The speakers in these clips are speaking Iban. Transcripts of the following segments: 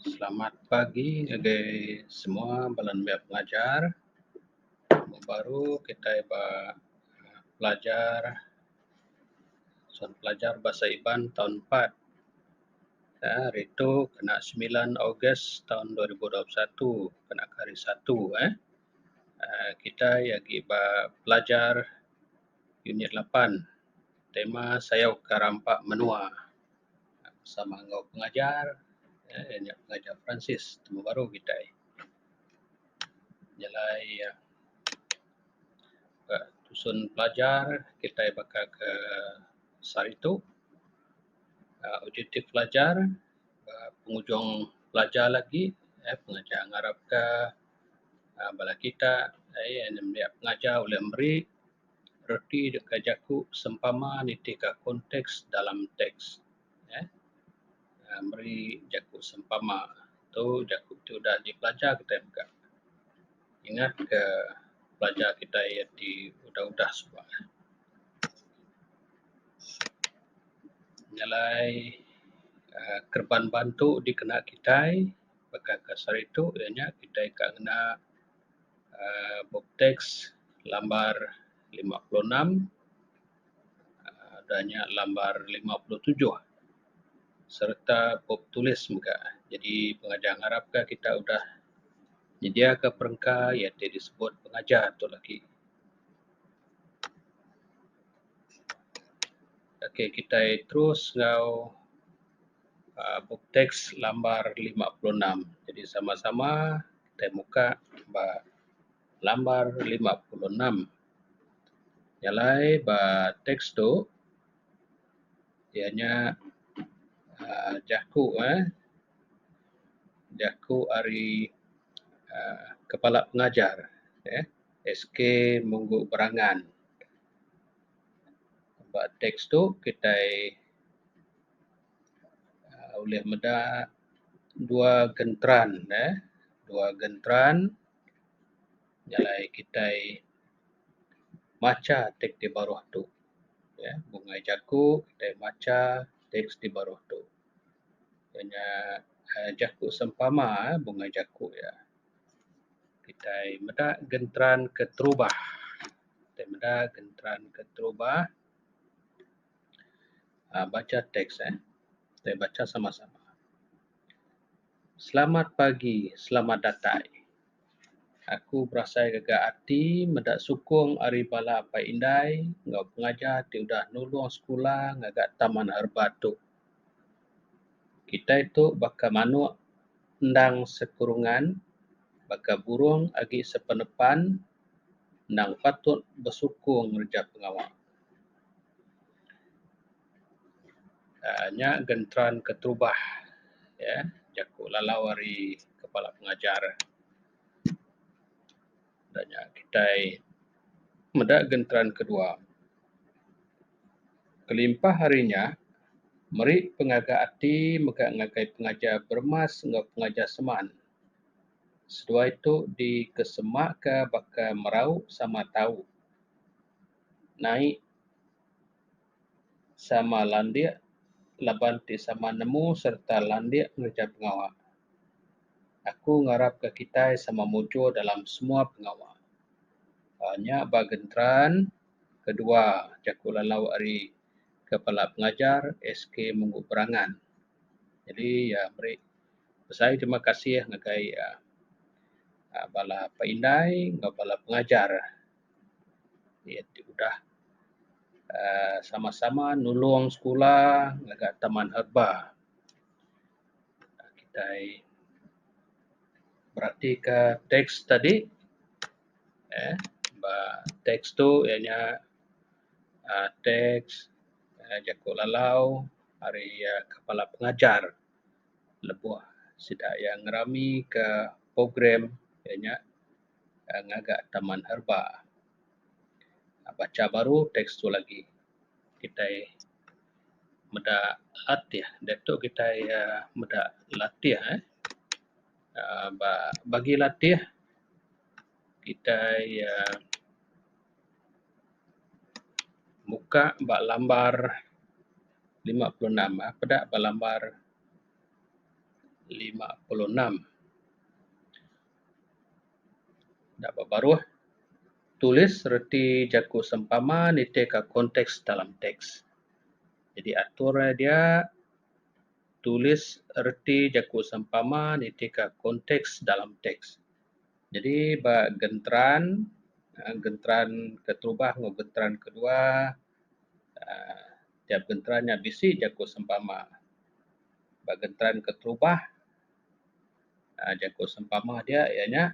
Selamat pagi ngagai semua bala nembiak pelajar. Minggu baru kitai ba pelajar Suan Pelajar Bahasa Iban taun empat. Nya hari tu kena semilan Ogos taun dua ribu dua puluh satu kena ke hari Satu eh. uhh Kitai agi ba pelajar unit lapan tema sayauka rampa menua. sama enggau pengajar um iya nya pengajar Peransis temu baru kitai nyelai iya ka tusun pelajar kitai baka ke sehari tu um objektif pelajar um pengujung pelajar lagi um pengajar ngarap ka um bala kita um iya nya pengajar ulih meri Reti deka jaku sempama nitih ka konteks dalam teks uhh meri jaku sempama tu jaku ti udah dipelajar kitai mega ingat ka pelajar kitai yen ti udah udah suba nyelai uhh kereban bantu dikena kitai baka ka sehari tu nya kitai ka ngena aaa bup teks lambar lima puluh enam aaa udah nya lambar lima puluh tujuh sereta bup tulis mega. Jadi pengajar ngarap ka kita udah nyedia ka perengka iya ti disebut pengajar tu lagi. Ok kitai terus enggau aaa bup teks lambar lima puluh enam. Jadi sama-sama. tai muka ba lambar lima puluh enam nya alai ba teks tu iya nya um jaku um jaku ari um kepala pengajar um SK Munggu Berangan. Ba teks tu kitai uhh ulih meda dua genteran uhh dua genteran jalai kitai macha teks ti baruh tu uhh bungai jaku kitai macha teks ti baruh tu iya nya uhh jaku sempama uhh bungai jaku iya. Kitai meda genteran keterubah kitai meda genteran keterubah. uhh bacha teks eh kita bacha sama sama. Selamat pagi selamat datai aku berasai gaga ati meda sukung ari bala apai indai enggau pengajar ti udah nulung sekula ngaga taman herba tu. Kitai tu baka manuk endang sekurungan baka burung agi sepenepan endang patut besukung ngereja pengawa. uhh nya genteran ketubah uhh jaku lalau ari kepala pengajar udah nya kitai meda genteran kedua kelimpah ari nya meri pengaga ati mega ngagai pengajar bermas enggau pengajar seman seduai tu dikesemaka baka merau sama tau. naik sama landik laban ti sama nemu sereta landik ngereja pengawa. Aku ngarapka kitai sama mujur dalam semua pengawa. uhh nya ba Gentran, kedua jaku lalau ari kepala pengajar SK Munggu Berangan. Jadi iya meri besai terima kasih ngagai uhh bala pak indai enggau bala pengajar. iya ti udah aaa sama sama nulong sekula ngaga taman herba kitai berati ka teks tadi emm ba teks tu iya nya aaa teks jaku lalau ari kepala pengajar lebuh sida iya ngerami ka program iya nya. uhh ngaga taman herba. Bacha baru teks tu lagi kitai meda latih diatu kitai uhh meda latih uhh ba bagi latih kitai uhh muka ba lambar lima puluh enam uhh peda ba lambar lima puluh enam. Da ba baruh, tulis reti jaku sempama nitihka konteks dalam teks. Jadi atur iya dia, tulis reti jaku sempama nitihka konteks dalam teks. Jadi ba genteran, uhh genteran keterubah enggau genteran kedua, uhh tiap genteran nya bisi jaku sempama. Ba genteran keterubah. um jaku sempama diak iya nya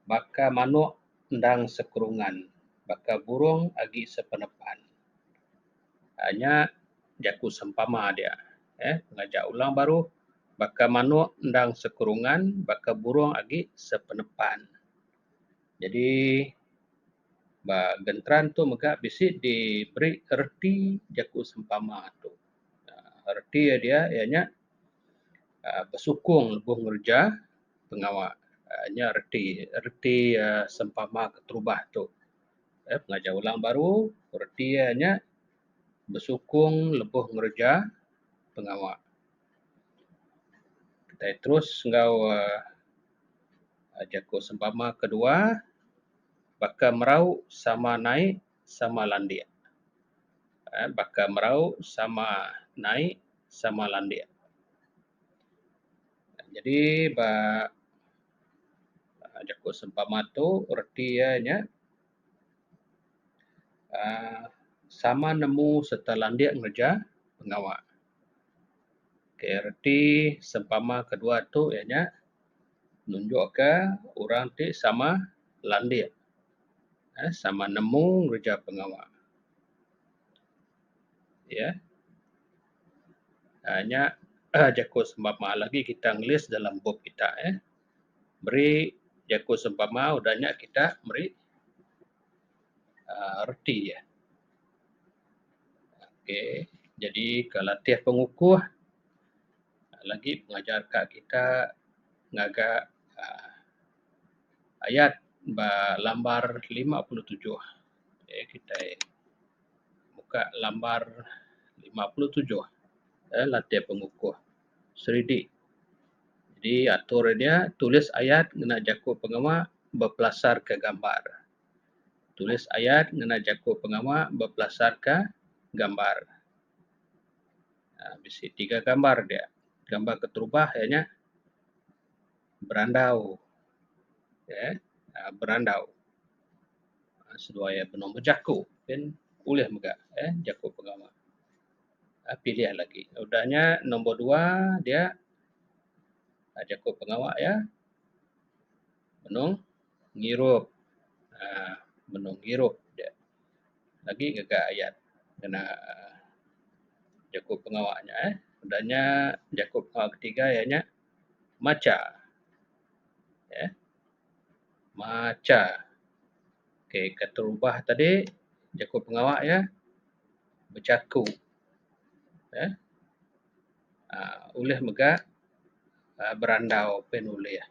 baka manok endang sekrungan baka burong agi sepenepan um nya jaku sempama diak um ngaja ulang baru baka manok endang sekrungan baka burong agi sepenepan. Jadi ba genteran tu mega bisi diberi reti jaku sempama tu um reti iya diak iya nya aaa besukung lebuh ngereja pengawa aaa nya reti reti aaa sempama keterubah tu aaa pengajar orang baru reti iya nya besukung lebuh ngereja pengawa kitai terus enggau aaa jaku sempama kedua baka merau sama naik sama landik. Um Baka merau sama naik sama landik. Jadi ba um jaku sempama tu reti iya nya um sama nemu sereta landik ngereja pengawa. Okay reti sempama kedua tu iya nya. Nunjukka orang ti sama landik aaa sama nemu ngereja pengawa iya aaa nya jaku sempama lagi kita ngelis dalam bup kita eh meri jaku sempama udah nya kita meri aaa reti iya. Okey jadi ke latih pengukuh lagi pengajar ka kita ngaga aaa ayat ba lambar lima puluh tujuh. Meh kitai muka lambar lima puluh tujuh eh latih pengukuh seridi. Di atur dia tulis ayat ngena jaku pengema bepelasarka gambar. Tulis ayat ngena jaku pengema bepelasarka gambar. Um Bisi tiga gambar dia, gambar keterubah iya nya berandau Um berandau Um seduai iya benung bejaku pun ulih mega Um jaku pengawa Um pilih lagi udah nya nombor dua dia Um jaku pengawa iya Benung ngirup aaa benung ngirup dia agi ngaga ayat ngena aaa jaku pengawa nya eh. Udah nya jaku pengawa ketiga iya nya macha eh macha. Okey keterubah tadi jaku pengawa iya bechaku. um ulih mega um berandau pe ne ulih.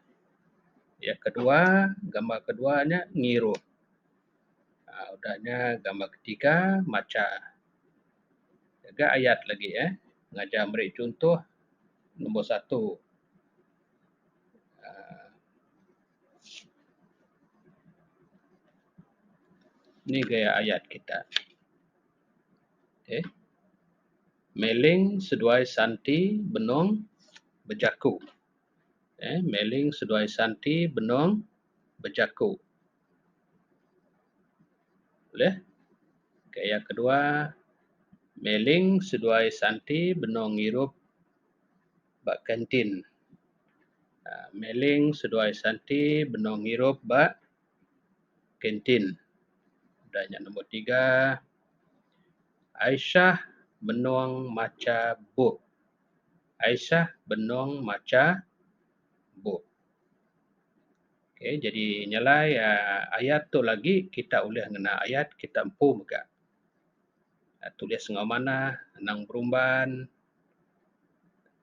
Yak kedua gambar kedua ne ngiru um udah nya gambar ketiga macha ga ayat lagi um ngajar meri chunto nombor satu um ni gaya ayat kita. Okey. Meling seduai santi benung bejaku. Okey. Meling seduai santi benung bejaku. Ulih? Okey. Yang kedua, meling seduai santi benung ngirup ba kantin. Meling seduai santi benung ngirup ba. kantin. Udah nya nombor tiga, Aisyah menung macha bup. Aisyah benung macha bup. Okay, jadi nya alai uhh ayat tu lagi kita ulih ngena ayat kita empu mega. Tulis enggau manah, anang berumban.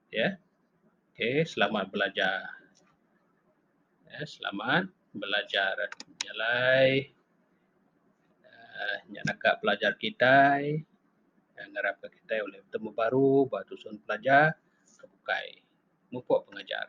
ya okey selamat belajar ya selamat belajar jalai um nya naka pelajar kitai um ngarap ka kitai ulih betemu baru ba tusun pelajar ke bukai mupok pengajar.